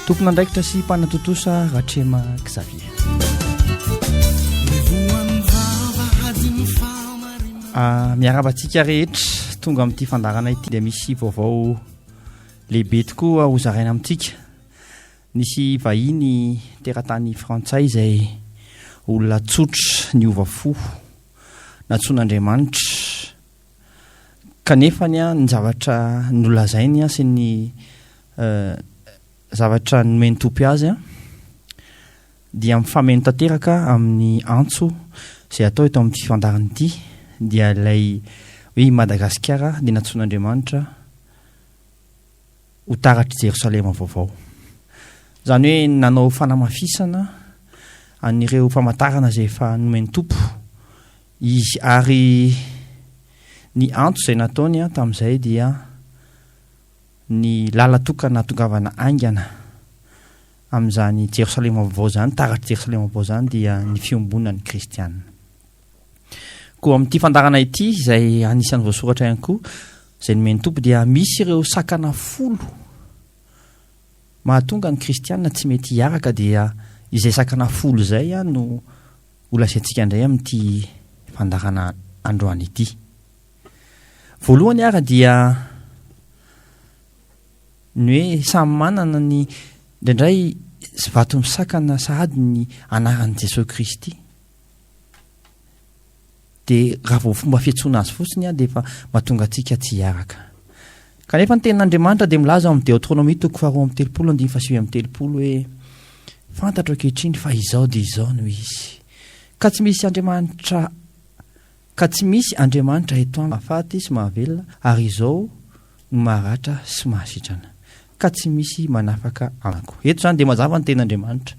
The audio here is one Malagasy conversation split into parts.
Tompon'andraikitra sy mpanatontosa Ratrema Xavier. Ah, miaraba antsika rehetra tonga amin'ity fandarana ity dia misy vaovao lehibe tokoa hozaraina amintsika. Nisy vahiny teratany frantsay izay olona tsotra niova fo natsoan'Andriamanitra Kanefa ny zavatra nolazainy sy ny zavatra nomen'ny Tompo azy dia mifameno tanteraka amin'ny antso izay atao eto amin'ity fandaharana ity dia ilay hoe i Madagasikara dia nantsoin'Andriamanitra ho taratr'i Jerosalema vaovao. Izany hoe nanao fanamafisana an'ireo famantarana izay efa nomen'ny Tompo Izy, ary ny antso izay nataony tamin'izay dia ny lalan-tokana hahatongavana haingana amin'izany Jerosalema Vaovao izany, taratr'i Jerosalema Vaovao izany dia ny fiombonan'ny kristiana. Koa amin'ity fandaharana ity, izay anisan'ny voasoratra ihany koa, izay nomen'ny Tompo dia misy ireo sakana folo mahatonga ny kristiana tsy mety hiaraka dia izay sakana folo izay no Ho lazaintsika indray amin'ity fandaharana androany ity. Voalohany ary dia ny hoe samy manana ny indraindray vato misakana sahady ny anaran'i Jesoa Kristy. Dia raha vao fomba fiantsoana azy fotsiny dia efa mahatonga antsika tsy hiaraka. Kanefa ny tenin'Andriamanitra dia milaza ao amin'ny Deotronomia toko faharoa amby telopolo andininy fahasivy amby telopolo hoe fantatro ankehitriny fa izao dia izao no izy. Ka tsy misy Andriamanitra ka tsy misy Andriamanitra eto aminy mahafaty sy mahavelona ary izao no maharatra sy mahasitrana ka tsy misy manafaka anako. Eto izany dia mazava ny tenin'Andriamanitra.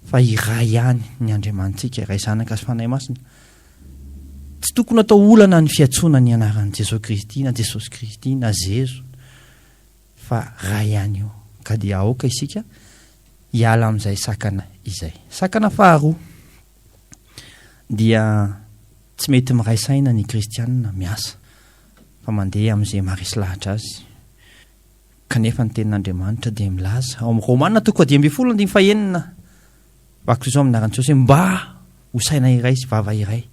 Fa iray ihany ny Andriamanitsika, Ray, Zanaka sy Fanahy Masina. Tsy tokony atao olana ny fiantsoana ny anaran'i Jesoa Kristy na Jesosy Kristy na Zezo fa Ray ihany io. Ka dia aoka isika hiala amin'izay sakana izay. Sakana faharoa dia tsy mety miray saina ny Kristianina miasa fa mandeha amin'izay maharesy lahatra azy. Kanefa ny Tenin'Andriamanitra dia milaza, ao amin'ny Romana toko fahadimy ambin'ny folo andininy fahenina, Vakiko izao amin'ny anaran'i Jesosy hoe mba ho saina iray sy vava iray,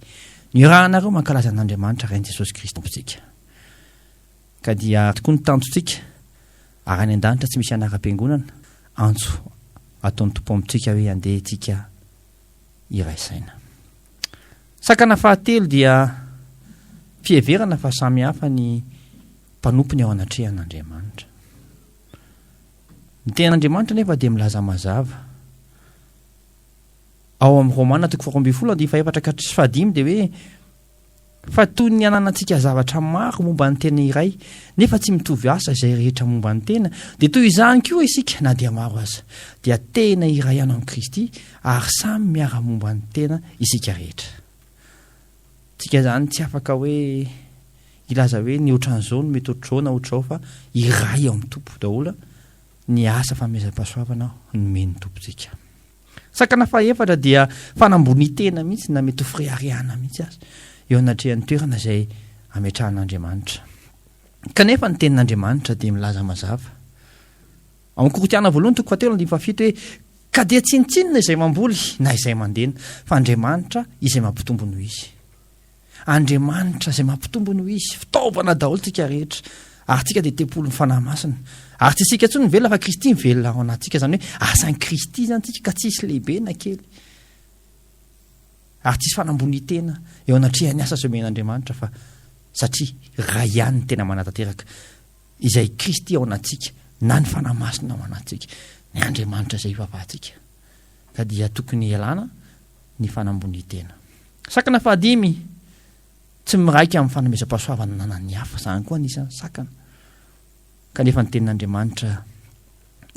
nirahanareo mankalaza an'Andriamanitra Rain'i Jesosy Kristy Tompontsika. Ka dia tokoa ny tanjontsika, ary any an-danitra tsy misy anaram-piangonana, antso ataon'ny Tompo amintsika hoe andeha tsika, iray saina. Sakana fahatelo dia fiheverana fa samy hafa ny mpanompony ao anatrehan'Andriamanitra. Ny tenin'Andriamanitra nefa dia milaza mazava. Ao amin'ny Romana toko faharoa ambin'ny folo andinin'ny fahefatra ka tsy fahadimy dia hoe Fa toy ny ananantsika zavatra maro momba ny tena iray, nefa tsy mitovy asa izay rehetra momba ny tena, dia toy izany koa isika, na dia maro aza, dia tena iray ihany amin'i Kristy, ary samy miara-momba ny tena isika rehetra. Tsika izany tsy afaka hoe hilaza hoe ny ohatran'izao no mety ohatr'izao na ohatr'izao, fa iray ao amin'ny Tompo daholo ny asa fanomezam-pahasoavana nomen'ny Tompontsika. Sakana fahefatra dia fanambonian-tena mihitsy na mety ho fireharehana mihitsy aza eo anatrehan'ny toerana izay ametrahan'Andriamanitra. Kanefa ny tenin'Andriamanitra dia milaza mazava. Ao amin'ny Korintiana voalohany toko fahatelo andininy fahafito hoe ka dia tsinontsinona izay mamboly na izay mandena fa Andriamanitra izay mampitombo noho izy. Andriamanitra izay mampitombo no izy, fitaovana daholo tsika rehetra, ary tsika dia tempoly ny Fanahy Masina, ary tsy isika intsony mivelona fa Kristy mivelona ao anatsika, izany hoe asan'i Kristy izany tsika ka tsy hisy lehibe na kely, ary tsy hisy fanambonitena eo anatrehan'ny asa izay omen'Andriamanitra fa satria Ray ihany ny tena manatanteraka izay Kristy ao anatsika na ny Fanahy Masina ao anatsika, ny Andriamanitra izay ivavahantsika, ka dia tokony hialana ny fanambonitena. Sakana fahadimy, Tsy miraika amin'ny fanomezam-pahasoavana ananan'ny hafa. Izany koa anisan'ny sakana. Kanefa ny Tenin'Andriamanitra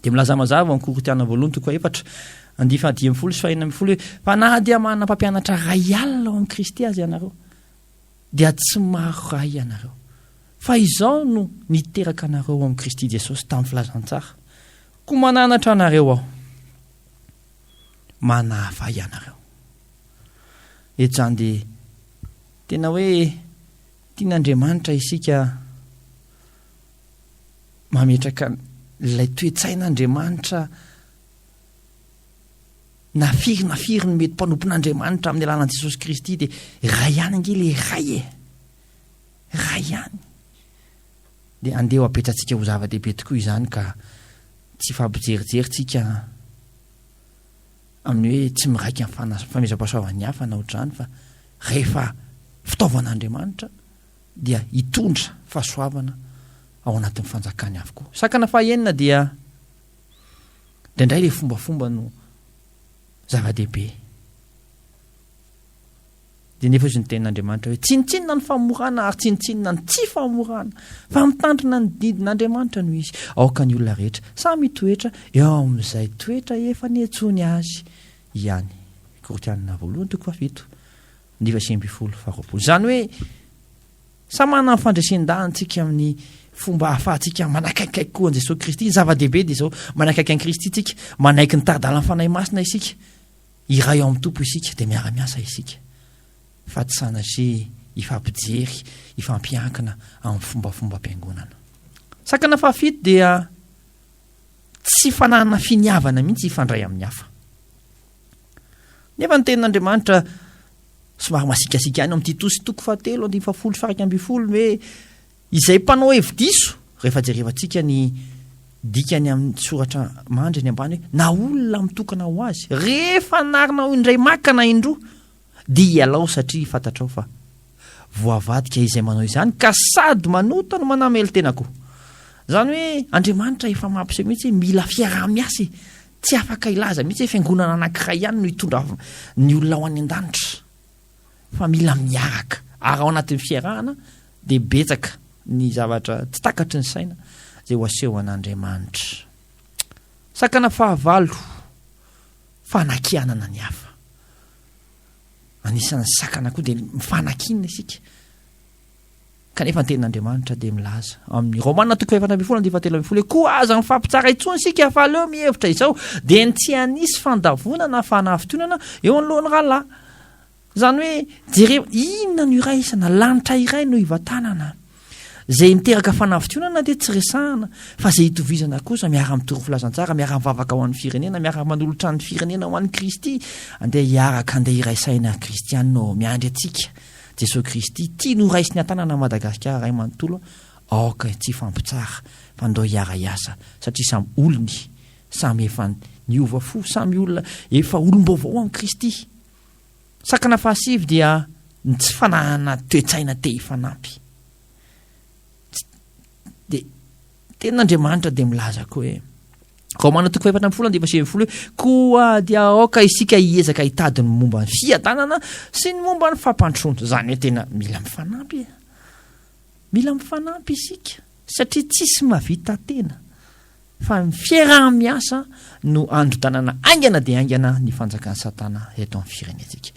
dia milaza mazava ao amin'ny Korintiana voalohany toko efatra andihy fahadimy ambin'ny folo sy fahena ambin'ny folo hoe fa na dia manana mpampianatra ray alina ao amin'i Kristy aza ianareo dia tsy maro ray ianareo. Fa izao no niteraka anareo ao amin'i Kristy Jesosy tamin'ny filazantsara. Koa mananatra anareo aho. Manahafay anareo. E Jan dia tena hoe tian'Andriamanitra isika mametraka ilay toe-tsain'Andriamanitra na firy na firy ny mety mpanompon'Andriamanitra amin'ny alalan'i Jesosy Kristy dia iray ihany ange le iray e iray ihany dia andeha ho apetratsika ho zava-dehibe tokoa izany ka tsy fampijerijery tsika amin'ny hoe tsy miraika ny fana famezam-pahasoavan'ny hafa na ohatr'izany fa rehefa fitaovan'Andriamanitra dia hitondra fahasoavana ao anatin'ny fanjakany avokoa. Sakana fahaenina dia indraindray ilay fombafomba no zava-dehibe. Dia nefa hoy ny tenin'Andriamanitra hoe, Tsinontsinona ny famorana ary tsinontsinona ny tsy famorana, fa mitandrina ny didin'Andriamanitra no izy. Aoka ny olona rehetra samy hitoetra eo amin'izay toetra efa niantsoany azy ihany. Korintiana voalohany toko fahafito, andiva sivy ambin'ny folo, faharoapolo. Izany hoe, samy manana ny fandresen-danintsika amin'ny fomba ahafahantsika manakaikaiky koa an'i Jesoa Kristy. Ny zava-dehibe dia izao, manakaiky an'i Kristy isika, manaiky ny tari-dalan'ny Fanahy Masina isika. Iray ao amin'ny Tompo isika dia miara-miasa isika fa tsy sanatria hifampijery, hifampiankina amin'ny fombafombam-piangonana. Sakana fahafito dia tsy fananana finiavana mihitsy hifandray amin'ny hafa. Nefa ny tenin'Andriamanitra somary masiakasiaka ihany ao amin'ny Titosy toko fahatelo andininy fahafolo sy faha iraika ambin'ny folo hoe Izay mpanao hevi-diso, rehefa jerevantsika ny dikany amin'ny soratra mandry eny ambany hoe, na olona mitokana ho azy, rehefa anarinao indray maka na indroa, dia ialao satria fantatrao fa voavadika izay manao izany ka sady manota no manamely tena koa. Izany hoe Andriamanitra efa mampiseho mihitsy hoe mila fiaraha-miasa e! Tsy afaka hilaza mihitsy hoe fiangonana anankiray ihany no hitondra ny olona ho any an-danitra. fa mila miaraka ary ao anatin'ny fiarahana dia betsaka ny zavatra tsy takatry ny saina izay ho asehoan'Andriamanitra. Sakana fahavalo, fanakianana ny hafa. Anisan'ny sakana koa dia mifanakiana isika. Kanefa ny Tenin'Andriamanitra dia milaza, ao amin'ny Romana toko fahefatra ambin'ny folo andinin'ny fahatelo ambin'ny folo hoe, Koa aza mifampitsara intsony isika, fa aleo mihevitra izao, dia ny tsy hanisy fandavoana na fanafintohinana eo anoloan'ny rahalahy. Izany hoe, jereo, inona no iraisana? Lanitra iray no ivantanana. Izay miteraka fanafintohinana dia tsy resahana, fa izay itovizana kosa, miara-mitory filazantsara, miara-mivavaka ho an'ny firenena, miara-manolotra ny firenena ho an'i Kristy, andeha hiaraka, andeha hiray saina, Kristianina ô, miandry antsika. Jesoa Kristy tiany ho raisiny an-tanana an'i Madagasikara iray manontolo aoka tsy hifampitsara fa ndao hiara hiasa satria samy olony samy efa niova fo samy olona efa olom-baovao amin'i Kristy. Sakana fahasivy dia ny tsy fananana toe-tsaina te hifanampy. Tsy dia Tenin'Andriamanitra dia milaza koa hoe Romana toko fahefatra ambifolo andiva sivy folo hoe koa dia aoka isika hiezaka hitady ny momba ny fiadanana sy ny momba ny fampandrosoana. Izany hoe tena mila mifanampy e. Mila mifanampy isika satria tsisy mavita tena fa ny fiaraha-miasa no androdanana aingana dia aingana ny fanjakan'i Satana eto amin'ny firenentsika.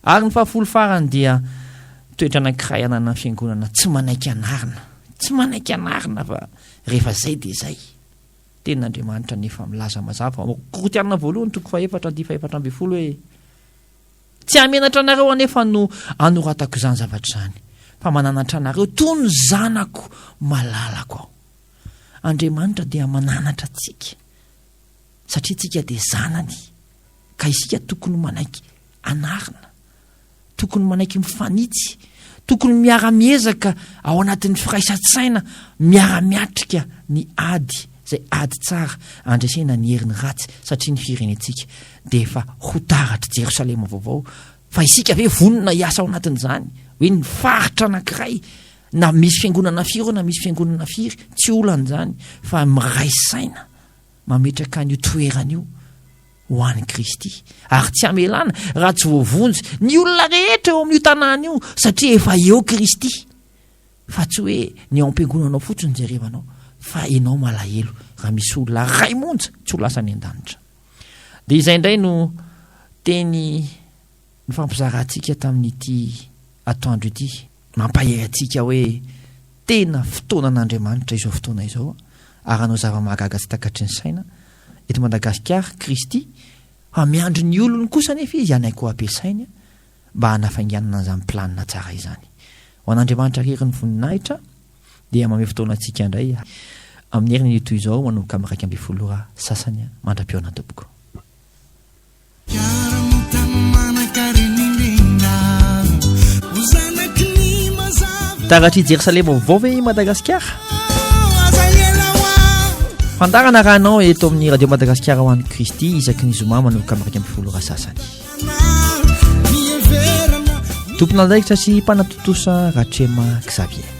Ary ny fahafolo farany dia toetra anankiray ananan'ny fiangonana tsy manaiky anarina, tsy manaiky anarina fa rehefa izay dia izay. Tenin'Andriamanitra anefa milaza mazava ao Korintiana voalohany toko fahefatra andihy fahefatra ambin'ny folo hoe tsy hamenatra anareo anefa no anoratako izany zavatra izany fa mananatra anareo toy ny zanako malalako aho. Andriamanitra dia mananatra antsika satria tsika dia zanany ka isika tokony manaiky anarina tokony manaiky mifanitsy tokony miara-miezaka ao anatin'ny firaisan-tsaina miara-miatrika ny ady zay ady tsara andresena ny heriny ratsy satria ny firenentsika dia efa ho taratry jerosalema vaovao fa isika ve vonona hiasa ao anatin'izany hoe ny faritra anankiray na misy fiangonana firy na misy fiangonana firy tsy olan'izany fa miray saina mametraka an'io toerana io ho an'i Kristy ary tsy hamelana raha tsy voavonjy ny olona rehetra eo amin'io tanàna io satria efa eo Kristy fa tsy hoe ny ao am-piangonanao fotsiny jerevanao fa enao malahelo raha misy olona ray monja tsy ho lasa any an-danitra dia izay indray no teny nifampizarantsika tamin'ity atoandro ity. Mampahery antsika hoe tena fotoanan'Andriamanitra izao fotoana izao ary hanao zava-mahagaga tsy takatry ny saina eto Madagasikara Kristy fa miandry ny olony kosa anefa Izy hanaiky ho ampiasainy mba hanafainganana an'izany planina tsara izany. Ho an'Andriamanitra irery ny voninahitra dia mamehy fotoana antsika indray amin'ny herin'io toy izao manomboka amin'ny iraika ambin'ny folo ora sasany mandra-pihaona tompoko. Taratr'i Jerosalema vaovao ve i Madagasikara? Fandarana raha anao eto amin'ny Radio Madagasikara ho an'i Kristy isaky ny zoma manomboka amin'ny iraika ambin'ny folo ora sasany. Tomponandraikitra sy mpanatontosa Ratrema Xavier.